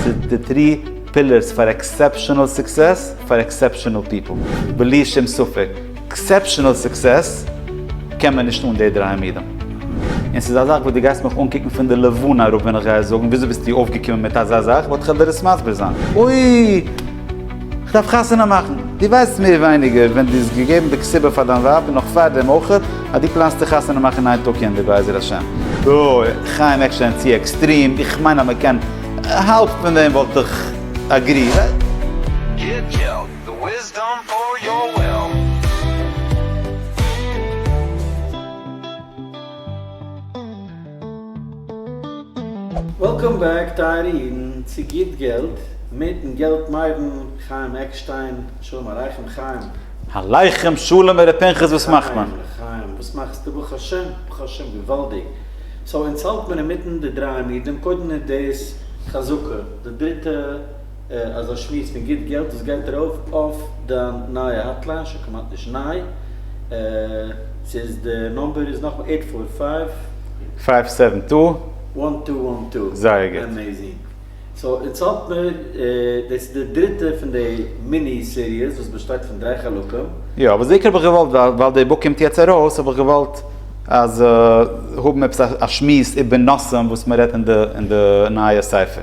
ס'איז די טרי פילערס פאר עקסעפשענעל סוקסעס פאר עקסעפשענעל פיפל. בלי שום ספק עקסעפשענעל סוקסעס קען מען נישט אן די דרײַ עמודים. און ס'איז א זאך וואס דו גייסט מיך אנקוקן פון די לבנה אראפ ווען איך גיי זאגן וויאזוי ביסטו אויפגעקומען מיט אזא זאך וואלט איך וועלט דיר עס מסביר זיין. אוי! כ'דארף חתונה מאכן. דו ווייסט מער ווייניגער ווען דו האסט געגעבן די קציבה פאר דיין ווייב און נאך פארדעם אויכעט אז דו פלאנסט צו חתונה מאכן אין איין טאג יענדער בעזר השם. אוי, חיים עקשטיין צו עקסטרים, איך מיין אז מען קען, האלב פון דעם וואלט איך אגרי. גיט געלט, די וויסדאם פאר יואל. וועלקאם בעק טייערע אידן צו גוט געלט מיטן געלט מיידן חיים עקשטיין שלום עליכם חיים. עליכם שלום ר' פנחס וואס מאכט מען? חיים לחיים וואס מאכסטו ברוך השם ברוך השם געוואלדיג סאו אונז האלט מיר אינמיטן די דריי עמודים קודם איז דאס חזקה די דריטע אזא שמועס פון גוט געלט וואס גייט ארויף אויף דיין נייע האטליין, שוין כמעט נישט ניי, ס'איז די נומבער איז נאכמאל עיט פאר פייוו. פייוו סעווען טו. וואן טו וואן טו. זייער גוט. עמעיזינג. סאו אונז האט מיר, דאס איז די דריטע פון די מיני סיריעס וואס באשטייט פון דריי חלקים. יא, אבער בעיקר האב איך געוואלט ווייל די בוק קומט יעצט ארויס האב איך געוואלט אז האבן עפעס א שמועס איבער נושאים וואס מ'רעדט אין די נייע ספר.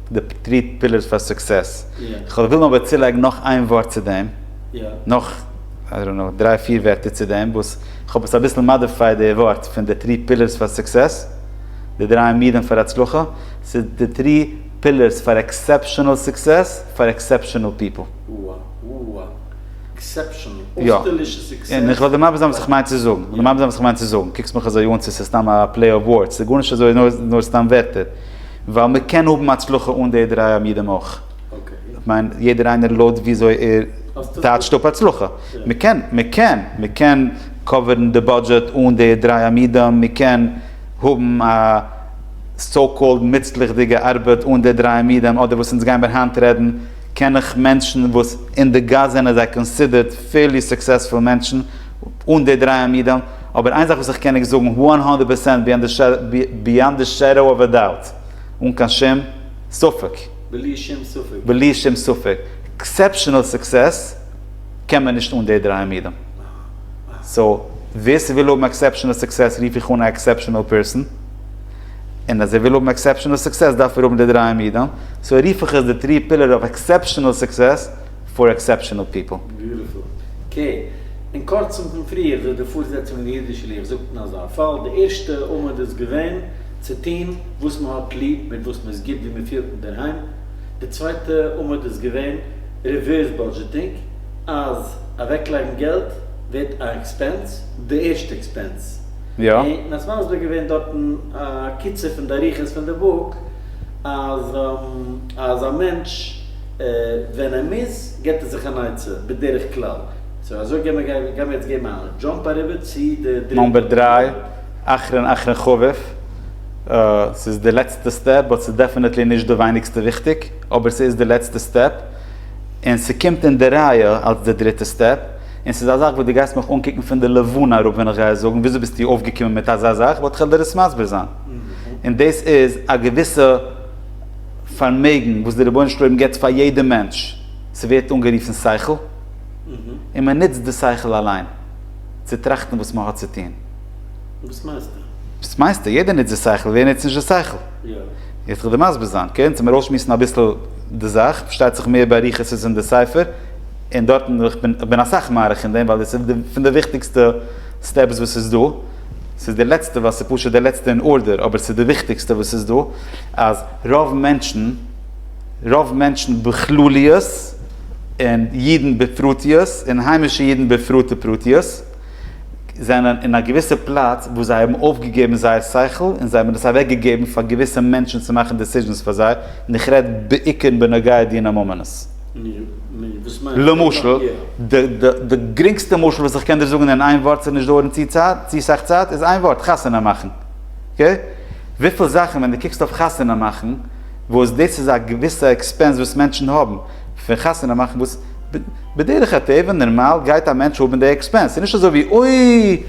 די טרי פילערס פאר סוקסעס. כ'וועל ווילן אבער צולייגן נאך איין ווארט צו דעם. נאך איי דאנט נאו דריי פיר ווערטער צו דעם וואס כ'האב עס אביסל מאדיפייד די ווארט פון די טרי פילערס פאר סוקסעס, די דריי עמודים פאר הצלחה, צו די טרי פילערס פאר עקסעפשענעל סוקסעס פאר עקסעפשענעל פיפל. וואו. עקסעפשענעל. אויסטערלישע סוקסעס. און כ'וועל דיר מסביר זיין וואס כ'מיין צו זאגן. כ'וועל דיר מסביר זיין וואס כ'מיין צו זאגן. קוקסט מיך אזוי אן צו ס'איז סתם א פלעי אוו ווארדס. ס'איז גארנישט אזוי נאר סתם ווערטער. ווייל מען קען האבן הצלחה אן די דריי עמודים אויך. כ'מיין יעדער איינער לויט וויאזוי ער טייטשט אפ הצלחה. מען קען, מען קען, מען קען קאווערן די בודזשעט אן די דריי עמודים, מען קען האבן א סאו קאלד מוצלח'דיגע ארבעט אן די דריי עמודים, אדער וואס אונז גיימער היינט רעדן, קען איך מענטשן וואס אין די גאס זענען זיי קאנסידערט פעירלי סוקסעספול מענטשן, אן די דריי עמודים, אבער איין זאך וואס איך קען עקס זאגן וואן הונדערט פערסענט ביאנד די שעדאו אוו א דאוט, אן קיין שום ספק, בלי שום ספק, בלי שום ספק, עקסעפשענעל סוקסעס קען מען נישט אן די דריי עמודים, סאו ווער ס'וויל האבן עקסעפשענעל סוקסעס רוף איך אן א עקסעפשענעל פערסאן, און אז ער וויל האבן עקסעפשענעל סוקסעס דארף ער האבן די דריי עמודים, סאו רוף איך עס די טרי פילער אוו עקסעפשענעל סוקסעס. פאר עקסעפשענעל פיפל. ביוטיפול. ק, אין קורצן פון פריער וואס די פארזעצונג אין די אידישע לוח זאגט אין אזא פאל, די ערשטע עמוד איז געווען צו טון וואס מען האט ליב, מיט וואס מען איז גוט, ווי מען פילט אינדערהיים, די צווייטע עמוד איז געווען ריווערס בודזשעטינג, אז אוועקלייגן געלט ווערט א עקספענס, די ערשטע עקספענס, און מען האט מסביר געווען דארטן א קיצור פון די אריכות פון די בוק, אז אז א מענטש. ווען ער מוז געט ער זיך אן עצה בדרך כלל. סאו אזוי גיימער גיימער יעצט געבן א דזשאמפ אריבער צו די דריטע. נאמבער דרײַ, אחרון אחרון חביב, ס'איז די לעצטע סטעפ באט ס'איז דעפענעטלי נישט די ווייניגסטע וויכטיג, אבער ס'איז די לעצטע סטעפ, און ס'קומט אין די רייע אלס די דריטע סטעפ, און ס'איז א זאך וואס דו גייסט מיך אנקוקן פון די לבנה אראפ ווען איך גיי זאגן וויאזוי ביסטו אויפגעקומען מיט אזא זאך, באט כ'על דיר עס מסביר זיין, און דאס איז א געוויסע. פארמעגן וואס דער רבונו של עולם געבט פאר יעדע מענטש, ס'ווערט אנגערופן שכל, און מען נוצט די שכל אליין צו טראכטן וואס מען האט צו טון. וואס מיינסטו? וואס מיינסטו? יעדער נוצט די שכל, ווער נוצט נישט די שכל? יעצט גיל איך דיר מסביר זיין, קענסט צו מיר אויסשמועסן אביסל די זאך, פארשטייט זיך מער באריכות איז אין די ספר, און דארטן איך בין אסאך מאריך אין דעם ווייל דאס איז פון די וויכטיגסטע סטעפס וואס איז דא, ס'איז די לעצטע ווייל ס'איז פשוט די לעצטע אין ארדער אבער ס'איז די וויכטיגסטע וואס ס'איז דא אז רוב מענטשן רוב מענטשן בכלליות און אידן בפרטיות און היימישע אידן בפרט ופרטיות זענען אין א געוויסע פלאץ וואו זיי האבן אויפגעגעבן זייער שכל און זיי האבן עס אוועקגעגעבן פאר געוויסע מענטשן צו מאכן דעסיזשענס פאר זיי און איך רעד בעיקר בנוגע דיני ממונות. למשל, די גרינגסטע משל וואס איך קען דיר זאגן אין איין ווארט ס'זאל נישט דויערן צו סאך צייט איז איין ווארט, חתונה מאכן. אקעי? וויפיל זאכן ווען דו קוקסט אויף חתונה מאכן, וואס דאס איז א געוויסע עקספענס וואס מענטשן האבן פון חתונה מאכן וואס בדרך הטבע נארמאל גייט א מענטש האבן די עקספענס, ס'איז נישט אזוי ווי אוי!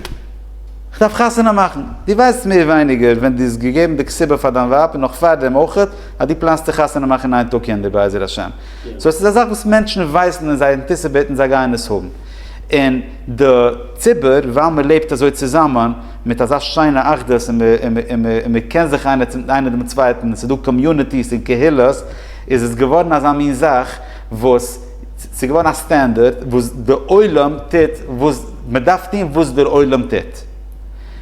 כ'דארף חתונה מאכן! דו ווייסט מער ווייניגער ווען דו האסט געגעבן די קציבה פאר דיין ווייב און נאך פארדעם אויכעט, אז דו פלאנסט צו חתונה מאכן אין איין טאג קינדער בעזר השם. סאו עס איז א זאך וואס מענטשן ווייסן און זיי אנטיסיפעיטן זיי גייען עס האבן. און די ציבור ווייל מען לעבט אזוי צוזאמען מיט אזא שיינע אחדות און און מען קען זיך איינער צום איינער דעם צווייטן און עס איז דא קאמיוניטיס און קהילות איז עס געווארן אזא מין זאך וואס ס'איז געווארן א סטענדערט וואס די עולם טוט וואס מען דארף טון וואס דער עולם טוט.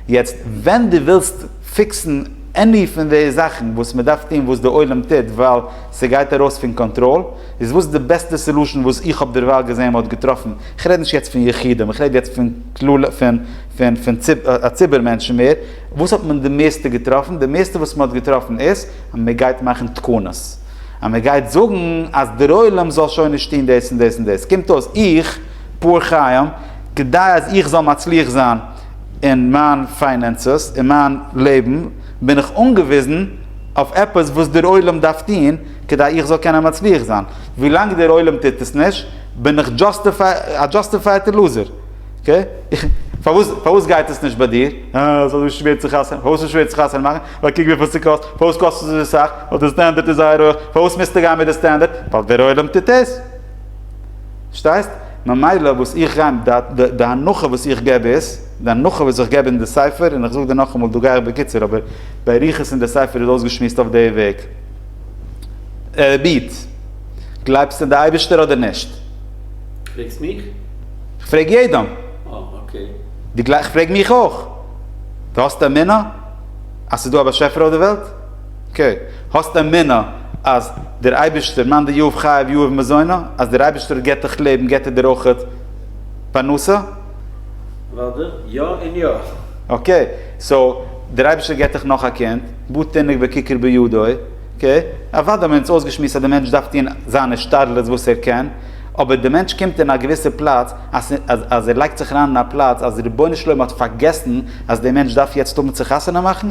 יעצט ווען דו ווילסט. פיקסן עני פון די זאכן וואס מען דארף טון וואס די עולם טוט ווייל ס'גייט ארויס פון קאנטראל, איז וואס די בעסטע סעלושען וואס איך האב דערווייל געזען מען האט געטראפן, איך רעד נישט יעצט פון יחידים איך רעד יעצט פון כלל פון א ציבור מענטשן מער, וואס האט מען די מערסטע געטראפן, די מערסטע וואס מען האט געטראפן איז אז מען גייט מאכן תקנות, אז מען גייט זאגן אז דער עולם זאל שוין נישט טון דאס און דאס און דאס, קומט אויס איך פאר חיים כדי אז איך זאל מצליח זיין, אין מיין פיינענסעס, אין מיין לעבן, בין איך אנגעוויזן אויף עפעס וואס דער עולם דארף טון כדי איך זאל קענען מצליח זיין. ווי לאנג דער עולם טוט עס נישט, בין איך א דזשאסטיפייטע לוזער. פארוואס פארוואס גייט עס נישט ביי דיר? אה, עס איז אזוי שווער צו חתונה. פארוואס איז שווער צו חתונה מאכן? ווייל קוק וויפיל ס'קאסט. פארוואס קאסט עס אזוי סאך? ווייל דער סטענדערט איז זייער הויך. פארוואס מוזטו גיין מיט דער סטענדערט? ווייל דער עולם טוט עס. פארשטייסט? ממילא וואס איך גיי אים דעת, די הנחה וואס איך געב איז, די הנחה וואס איך געב אין די ספר, און איך זאג דיר נאכאמאל, דא גיי איך בקיצור, אבער באריכות אין די ספר איז אויסגעשמועסט אויף די וועג. ער בעט, גלייבסט אין די אייבערשטער אדער נישט? פרעגסט מיך? איך פרעג יעדעם. אה, אקעי. דו גלייבסט? איך פרעג מיך אויך. דו האסט אמונה אז ס'איז דא א באשעפער אויף די וועלט? אקעי, האסט אמונה אז דער אייבערשטער מאן דהיו חייב יהיו ומזונו, אז דער אייבערשטער גיבט דיך לעבן גיבט ער דיר אויך פרנסה? לאדער, יא און יא. אקעי, סאו דער אייבערשטער גיבט דיך נאך א קינד, בא תינוק בכיכר בידו, אקעי, אוודאי האבן מיר אונז אויסגעשמועסט אז דער מענטש דארף טון זיין השתדלות וואס ער קען, אבער דער מענטש קומט אין א געוויסע פלאץ אז אז ער לייגט זיך אריין אין א פלאץ אז רבונו של עולם האט פארגעסן אז דער מענטש דארף יעצט האבן צו חתונה מאכן,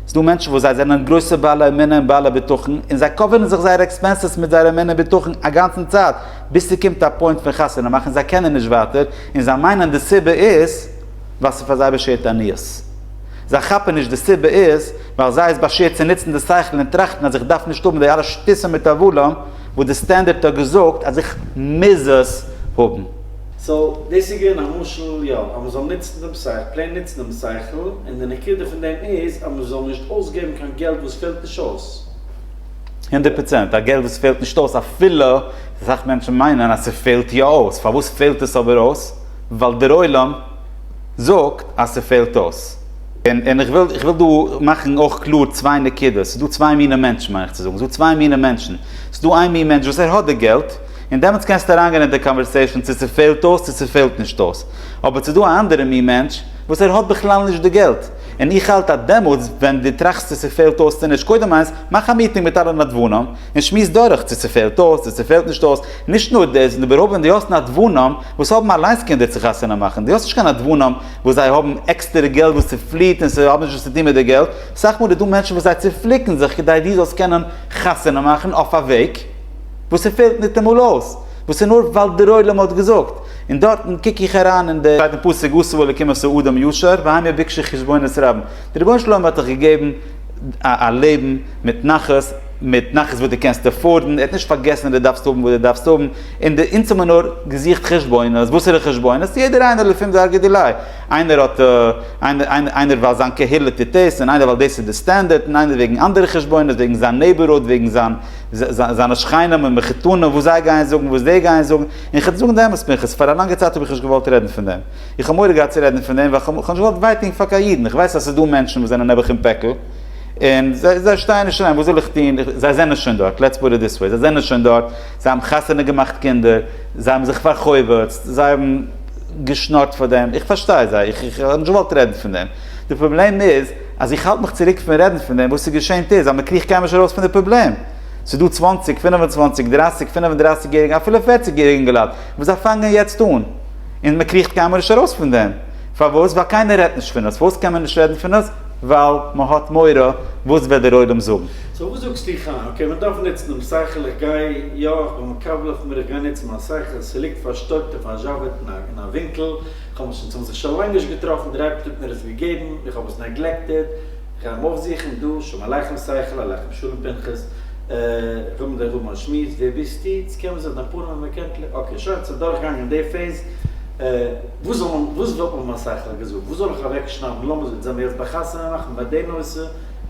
ס'דא מענטשן וואס זיי זענען גרויסע בעלי אמונה און בעלי בטחון, און זיי קאווערן זיך זייערע עקספענסעס מיט זייער אמונה און בטחון א גאנצן צייט, ביז ס'קומט א פוינט פון חתונה מאכן און זיי קענען נישט ווייטער, און זיי מיינען די סיבה איז ווייל ס'איז פאר זיי באשערט עניות. זיי כאפן נישט די סיבה איז ווייל זיי איז באשערט צו נוצן די שכל און טראכטן אז איך דארף נישט האבן די אלע שטותים מיט הבלים וואס די סטענדערט האט געזאגט אז איך מוז עס האבן. סאו דאס איז געווען א משל יא אז מען זאל נוצן דעם שכל, פלעין נוצן דעם שכל, און די נקודה פון דעם איז אז מען זאל נישט אויסגעבן קיין געלט וואס פעלט נישט אויס. הונדערט פראצענט, א געלט וואס פעלט נישט אויס אפילו אסאך מענטשן מיינען אז ס'פעלט יא אויס, פארוואס פעלט עס אבער אויס? ווייל דר'עולם זאגט אז ס'פעלט אויס. און און איך וויל איך וויל דא מאכן אויך קלאר צוויי נקודות, ס'איז דא צוויי מיני מענטשן מיין איך צו זאגן, ס'איז דא צוויי מיני מענטשן, ס'איז דא איין מין מענטש וואס ער האט די געלט, און דעמאלטס קענסטו אריינגיין אין די קאנווערסעישאן צו ס'פעלט אויס צו ס'פעלט נישט אויס. אבער ס'איז דא א אנדערע מין מענטש וואס ער האט בכלל נישט די געלט. און איך האלט אז דעמאלטס ווען דו טראכסט צו ס'פעלט אויס צו נישט, קודם איינס, מאך א מיטינג מיט אלע נדבנים און שמועס דורך צו ס'פעלט אויס צו ס'פעלט נישט אויס. נישט נאר דאס, און איבערהויפט ווען דו האסט נדבנים וואס האבן אליינס קינדער צו חתונה מאכן, דו האסט נישט קיין נדבנים וואס זיי האבן עקסטערע געלט וואס ס'פליעט און ס'האט נישט וואס צו טון מיט די געלט. סאך מאל איז דא מענטשן וואס זיי צופליקן זיך כדי דו זאלסט קענען חתונה מאכן אויף א וועג. וואס ס'פעלט ניטאמאל אויס, וואס איז נאר ווייל דר'עולם האט געזאגט, און דארטן קוק איך אריין אין די. שטייט אין פסוק עשו אלקים עשו אדם ישר והעם יבקשו חשבונות רבים, די רבונו של עולם האט דיך געגעבן א לעבן מיט נחת, מיט נחת וואס די קענסט עפארדן, ער האט נישט פארגעסן אז די דארפסט האבן וואס די דארפסט האבן, און די אונז האבן נאר געזוכט חשבונות, וואסערע חשבונות? יעדער איינער לפום דרגא דילאי, איינער האט איינער ווייל זיין קהילה טוט דאס, און איינער ווייל דאס איז די סטענדערט, און איינער וועגן אנדערע חשבונות, וועגן זיין נעיבערהוד, וועגן זיין. זיינע שכנים און מחותנים וואס זיי גייען זאגן וואס די גייען זאגן, און איך וועל דיר זאגן די אמת פנחס, פאר א לאנגע צייט האב איך נישט געוואלט רעדן פון דעם, איך האב מורא געהאט צו רעדן פון דעם ווייל איך האב נישט געוואלט וויי טון פאר קיין אידן, איך ווייס אז ס'איז דא מענטשן וואס זענען נעבעך אין פעקל, און זיי שטייען נישט אריין, וואס זאל איך טון, זיי זענען שוין דארט, לעטס פוט איט דיס וועי, זיי זענען שוין דארט, זיי האבן חתונה געמאכט קינדער, זיי האבן זיך פאר'חובות'ט, זיי האבן געשנארט פאר דעם, איך פארשטיי זיי, איך האב נישט געוואלט רעדן פון דעם, די פראבלעם איז. אז איך האלט מיך צוריק פון רעדן פון דעם, וואס איז געשען טו איז אז מען קריכט קיינמאל נישט ארויס פון די פראבלעם. ס'איז דא צוואנציג, פינף און צוואנציג, דרייסיג, פינף און דרייסיג יעריגע, אפילו פערציג יעריגע אינגעלייט, וואס זיי פאנגען יעצט אן, און מען קריכט קיינמאל נישט ארויס פון דעם. פארוואס? ווייל קיינער רעדט נישט פון עס. פארוואס קען מען נישט רעדן פון עס? ווייל מען האט מורא וואס וועט דער עולם זאגן. סאו וואס זאגסטו חיים? אקעי, מען דארף נוצן דעם שכל, איך גיי, יא, איך בין מקבל אויף מיר, איך גיי נוצן מיין שכל, ס'ליגט פארשטויבט אויף א זשאוועטנאק אין א ווינקל, כ'האב עס אונז האבן זיך שוין לאנג נישט געטראפן, דער אייבערשטער האט מיר עס געגעבן, איך האב עס נעגלעקטעד, איך גיי אים אויפזוכן דא, שלום עליכם שכל עליכם שלום פנחס, כ'וויל מיט דיר האבן א שמועס, ווער ביסטו, צו קען מען זיך דעם פארנעם און קענטל, אקעי שוין, האט זיך דורכגעגאנגען די פעיז, וואס וואלט מען מיין שכל געזאגט, וואס זאל איך אוועקשניידן, לאמיר זיך זעמיר יעצט ביי חתונה מאכן ביי די נושא,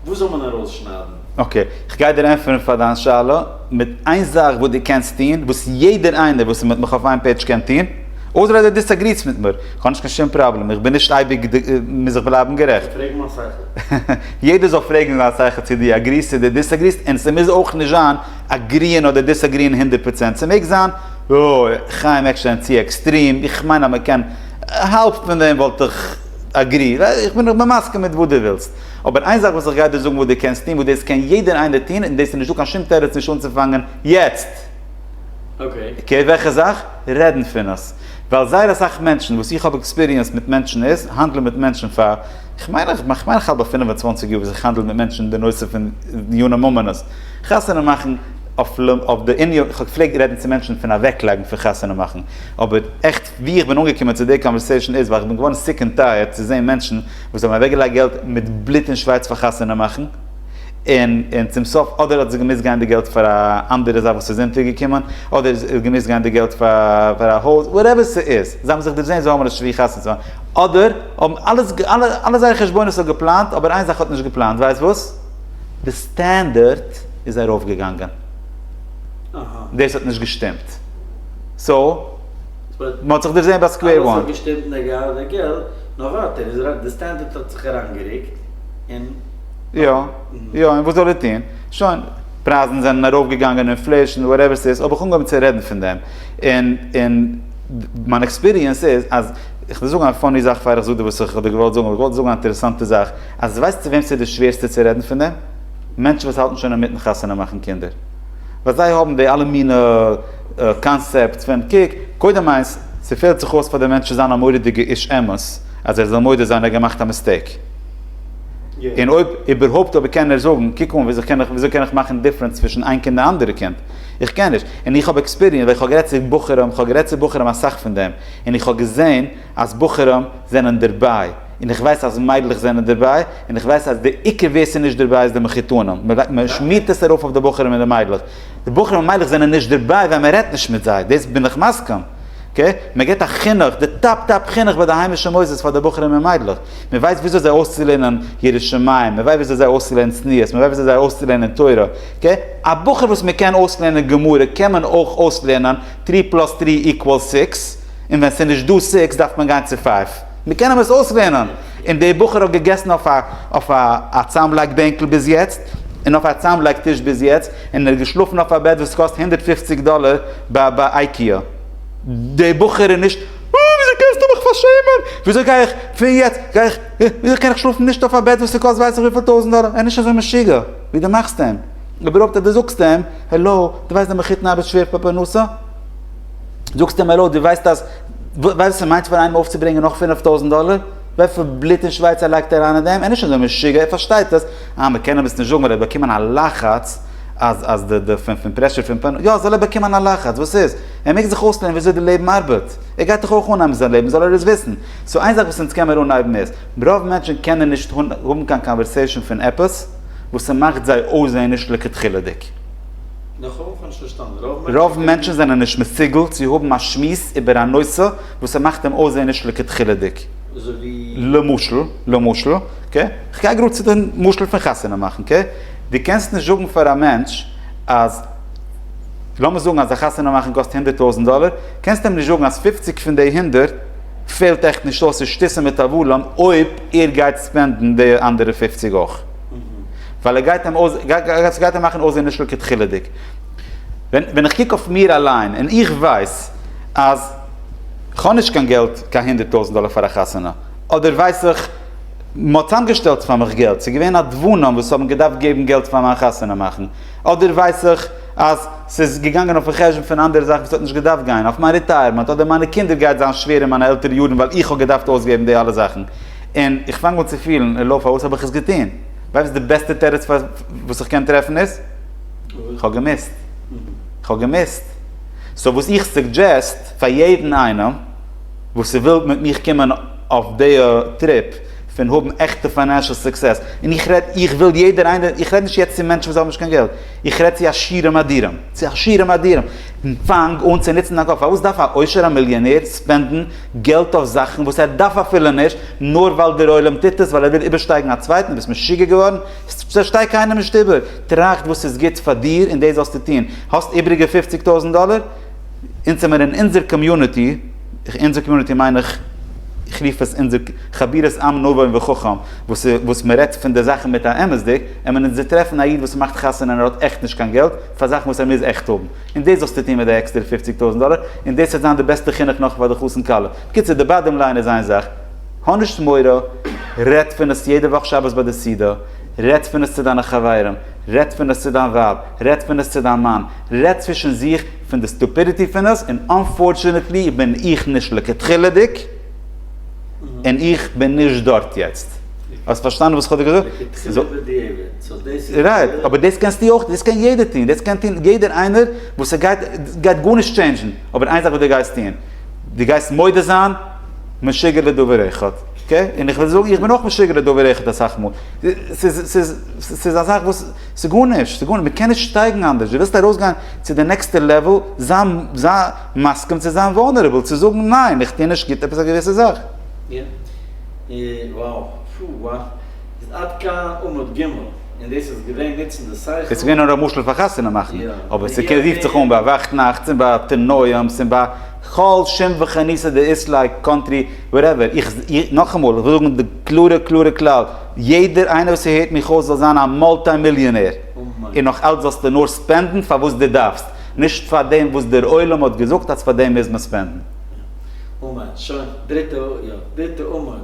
וואס זאל מען ארויסשניידן? אקעי, כ'גיי דיר ענטפערן פאר דיין שאלה מיט איין זאך וואס דו קענסט טון, וואס יעדער איינער וואס איז מיט מיך אויף איין פעידזש קען טון, אויסער אז דו דיסעגריסט מיט מיר, כ'האב נישט קיין שום פראבלעם, איך בין נישט אייביג די, מוז איך בלייבן גערעכט. איך פרעג מיין שכל. יעדער זאל פרעגן זיין שכל צו דו אגריסט צו דו דיסעגריסט, און ס'מוז אויך נישט זיין אגריען אדער דיסעגריען הונדערט פראצענט, ס'מעג זיין, אוי, חיים עקשטיין צו עקסטרים, איך מיין אז מ'קען, האלב פון דעם וואלט איך אגריעד, איך בין מסכים מיט וואס דו ווילסט. אבער איין זאך וואס איך גיי דיר זאגן וואס דו קענסט טון וואס דאס קען יעדער איינער טון און דאס איז נישטא קיין שום תירוץ נישט אנצופאנגען יעצט. אקעי וועלכע זאך? רעדן פון עס. ווייל זייער אסאך מענטשן וואס איך האב עקספיריענס מיט מענטשן איז האנדלען מיט מענטשן פאר איך מיין איך מיין איך האלט ביי פֿינף און צוואַנציק יאר וואס איך האנדל מיט מענטשן אין די נושא פון דיני ממונות חתונה מאכן אויף די ענין איך פלעג רעדן צו מענטשן פון אוועקלייגן פון חתונה מאכן אבער עכט ווי איך בין אנגעקומען צו די קאנווערסעישאן איז ווייל איך בין געווארן סיק און טייערד צו זעהן מענטשן וואס האבן אוועקגעלייגט געלט מיט בלוט און שווייס פאר חתונה מאכן און און צום סוף אדער האט עס געמוזט גיין די געלט פאר א אנדערע זאך וואס איז אונטערגעקומען אדער איז עס געמוזט גיין די געלט פאר א הויז וואטעווער ס'איז זיי האבן זיך דערזעהן זיי האבן נישט ווי חתונה צו מאכן אדער האבן אלעס אלע זייערע חשבונות האט געפלאנט אבער איין זאך האט נישט געפלאנט ווייסט וואס? די סטענדערט איז ארויפגעגאנגען דאס האט נישט געשטימט סאו. מען האט זיך דערזעהן ביי סקווער וואן. אלעס האט געשטימט און ער האט געהאט די געלט, נאר וואט ער איז ראנג, די סטענדערט האט זיך אריינגערוקט און. יא יא און וואס זאל ער טוהן, שוין פרייזן זענען ארויפגעגאנגען אינפלעישן וואטעווער ס'איז האב איך אנגעהויבן צו רעדן פון דעם און און מיין עקספיריענס איז אז איך וועל זאגן א פאני זאך פאר איך זאג דיר וואס איך האב דיר געוואלט זאגן אבער איך וואלט זאגן א אינטערעסאנטע זאך אז ווייסט צו וועם ס'איז די שווערסטע צו רעדן פון דעם? מענטשן וואס האלטן שוין אינמיטן חתונה מאכן קינדער. ווייל זיי האבן די אלע מינע קאנסעפטס פון קוק, קודם איינס, ס'פעלט זיך אויס פאר די מענטש צו זיין א מורא'דיגע איש אמת אז ער זאל מודה זיין ער האט געמאכט א מיסטעיק. און אויב איבערהויפט אויב קען ער זאגן, קוק אן וויאזוי קען איך וויאזוי קען איך מאכן דיפרענץ צווישן איין קינד און די אנדערע קינד? איך קען נישט. און איך האב עקספיריענס ווייל איך האב גערעדט צו בחורים, איך האב גערעדט צו בחורים אסאך פון דעם, און איך האב געזען אז בחורים זענען דערביי. און איך ווייס אז מיידלעך זענען דערביי, און איך ווייס אז די עיקר ווער ס'איז נישט דערביי איז די מחותנים, מ'שמירט עס ארויף אויף די בחורים און די מיידלעך, די בחורים און מיידלעך זענען נישט דערביי ווייל מ'רעדט נישט מיט זיי, דאס בין איך מסכים, אקעי? מ'געט א חינוך, די טאפ טאפ חינוך ביי די היימישע מוסדות פאר די בחורים און מיידלעך, מ'ווייסט וויאזוי זיי אויסצולערנען יראת שמים, מ'ווייסט וויאזוי זיי אויסצולערנען צניעות, מ'ווייסט וויאזוי זיי אויסצולערנען תורה, אקעי? א בחור וואס מ'קען אויסלערנען גמרא קען מען אויך אויסלערנען טרי פלאס טרי איקוואלס סיקס, און ווען ס'איז נישט דא סיקס דארף מען גיין צו פייוו. מיר קענען עס אויסלערנען. און דער בחור האט געגעסן אויף א צאמלייג בענקל ביז יעצט, און אויף א צאמלייג טיש ביז יעצט, און ער האט געשלאפן אויף א בעט וואס קאסט הונדערט פֿופֿציק דאלער ביי אייקיע. דער בחור איז נישט, אה, וויאזוי קענסטו מיך פארשעמען? וויאזוי גיי איך פון יעצט, גיי איך, וויאזוי קען איך שלאפן נישט אויף א בעט וואס ס'קאסט ווייס איך וויפיל טויזנט דאלער? ער איז נישט אזוי משוגע ווי דו מאכסט אים. אבער אויב דו זאגסט אים, העלא, דו ווייסט דער מחותן ארבעט שווער פאר פרנסה? זאגסט אים העלא, דו ווייסט אז, ווייסט וואס ס'מיינט פאר איינעם אויפצוברענגען נאך פינף טויזנט דאלער? וויפיל בלוט און שווייץ ער לייגט אריין אין דעם? ער איז נישט אזוי משוגע, ער פארשטייט עס. אה, מ'קען אים עס נישט זאגן ווייל ער האט באקומען א לחץ אז אז די די פון פון פרעשור פון פאן. יא, זאל ער באקומען א לחץ, וואס איז? ער מעג זיך אויסלערנען וויאזוי די לעבן ארבעט. ער גייט דאך אויך אנהייבן זיין לעבן, זאל ער עס וויסן. סאו איין זאך וואס אונז קענמיר אנהייבן איז, רוב מענטשן קענען נישט האבן קיין קאנווערסעישאן פון עפעס וואס ס'מאכט זיי אויסזען נישט לכתחילה'דיג. רוב מענטשן זענען נישט מסוגל צו האבן א שמועס איבער א נושא וואס ס'מאכט אים אויסזען נישט לכתחילה'דיג. למשל, כ'גיי גראד צו די משל פון חתונה מאכן. דו קענסט נישט זאגן פאר א מענטש אז, לאמיר זאגן אז א חתונה מאכן קאסט הונדערט טויזנט דאלער, קענסט אים נישט זאגן אז פופציג פון די הונדערט פעלט עכט נישט אויס, ס'איז שטיסע מיט א וואלען אויב ער גייט ספענדן די אנדערע פופציג אויך. ווייל ער גייט אים אויס, ס'גייט אים מאכן אויסזען נישט לכה דחילה'דיג. ווען ווען איך קוק אויף מיר אליין און איך ווייס אז כ'האב נישט קיין געלט קיין הונדערט טויזנט דאלער פאר א חתונה, אדער ווייס איך מ'האט צאמגעשטעלט פאר מיך געלט, ס'איז געווען נדבנים וואס האבן געדארפט געבן געלט פאר מיין חתונה מאכן, אדער ווייס איך אז ס'איז געגאנגען אויפ'ן חשבון פון אנדערע זאכן וואס האט נישט געדארפט גיין, אויף מיין ריטייערמענט אדער מיינע קינדער גייט זיין שווער אין מיינע עלטערע יארן ווייל איך האב געדארפט אויסגעבן די אלע זאכן. און איך פאנג אן צו פילן, הלא פארוואס האב איך עס געטון? ווייסט די בעסטע תירוץ וואס איך קען טרעפן איז? איך האב געמוזט. איך האב געמוזט. סאו וואס איך סוגדזשעסט פאר יעדן איינעם וואס וויל מיט מיך קומען אויף די טריפ פון האבן עכטע פיינענשעל סוקסעס, און איך רעד, איך וויל יעדער איינער, איך רעד נישט יעצט צו מענטשן וואס האבן נישט קיין געלט, איך רעד צו עשירים אדירים, צו עשירים אדירים, פאנג אן צו נוצן דיין קאפ, פארוואס דארף א עושר'ע מיליאנער ספענדן געלט אויף זאכן וואס ער דארף אפילו נישט, נאר ווייל דער עולם טוט עס, ווייל ער וויל איבערשטייגן א צווייטן, דו ביסט משוגע געווארן? ס'פארשטייט קיינער נישט איבער, טראכט וואס איז גוט פאר דיר און דאס זאלסטו טון, האסט איבריגע פופציג טויזנט דאלער? אונז האמיר אין אונזער קאמיוניטי, אונזער קאמיוניטי מיין איך, איך רוף עס אונזער חבירות עם נבון וחכם, וואס מ'רעדט פון די זאכן מיט א אמת'דיג, עמען אונז טרעפן א איד וואס מאכט חתונה און ער האט עכט נישט קיין געלט, פאר זאכן וואס ער מוז עכט האבן, און דאס זאלסטו טון מיט די עקסטערע פופציג טויזנט דאלער, און דאס וועט זיין די בעסטע חינוך נאך פאר די חתן כלה. בקיצור, די באדעם ליין איז איין זאך, האב נישט מורא, רעדט פון עס יעדע וואך שבת ביי די סעודה, רעדט פון עס צו דיינע חברים, רעדט פון עס צו דיין ווייב, רעדט פון עס צו דיין מאן, רעדט צווישן זיך פון די סטופידיטי פון עס, און אנפארטשענעטלי בין איך נישט לכתחילה'דיג, און איך בין נישט דארט יעצט. האסט פארשטאנען וואס כ'האב דיר געזאגט? לכתחילה'דיג. רייט, אבער דאס קענסטו אויך, דאס קען יעדער טון, דאס קען טון יעדער איינער וואס ס'גייט, ס'גייט גארנישט טשעינדזשן, אבער איין זאך וואס דו גייסט טון, דו גייסט מודה זיין, משוגע לדבר אחד, אקעי? און איך וועל זאגן, איך בין אויך משוגע לדבר אחד אסאך מאל, ס'איז, ס'איז, ס'איז א זאך וואס, ס'איז גארנישט, ס'איז גארנישט, מ'קען נישט שטייגן אנדערש, דו ווילסט ארויסגיין צו די נעקסטע לעוועל, זיי, זיי מסכים צו זיין וואלנערעבל, צו זאגן ניין, איך טוה נישט גוט עפעס א געוויסע זאך. איז עד כאן עמוד ג' און דאס איז געווען נוצן די שכל. עס איז געווען נאר א משל פאר חתונה מאכן, אבער ס'רופט זיך אן ביי וואכט נאכטס און ביי תרנוים'ס און ביי כל שום וכניסא דאיסלעיק קאנטרי וואטעווער. איך, נאכאמאל, איך וויל זאגן די קלארע קלארע כלל, יעדער איינער וואס ס'הערט מיך אויס זאל זיין א מולטי מיליאנער, און נאך אלץ זאלסטו נאר ספענדן פאר וואס דו דארפסט, נישט פאר דעם וואס דער עולם האט געזאגט אז פאר דעם מוז מען ספענדן. אמן, שוין, דריטע, יא, דריטע עמוד.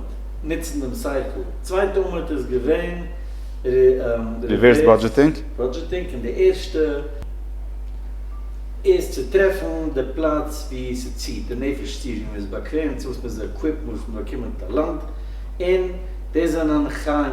נוצן דעם שכל. צווייטע אמתע איז געווען ריווערס בודזשעטינג און די ערשטע איז צו טרעפן די פלאץ ווי ס'ציט די נפש צו ווי מ'איז באקוועם צו וואס מ'איז עקוויפט מ'וויל פון באקומען טאלאנט און דאס זענען חיים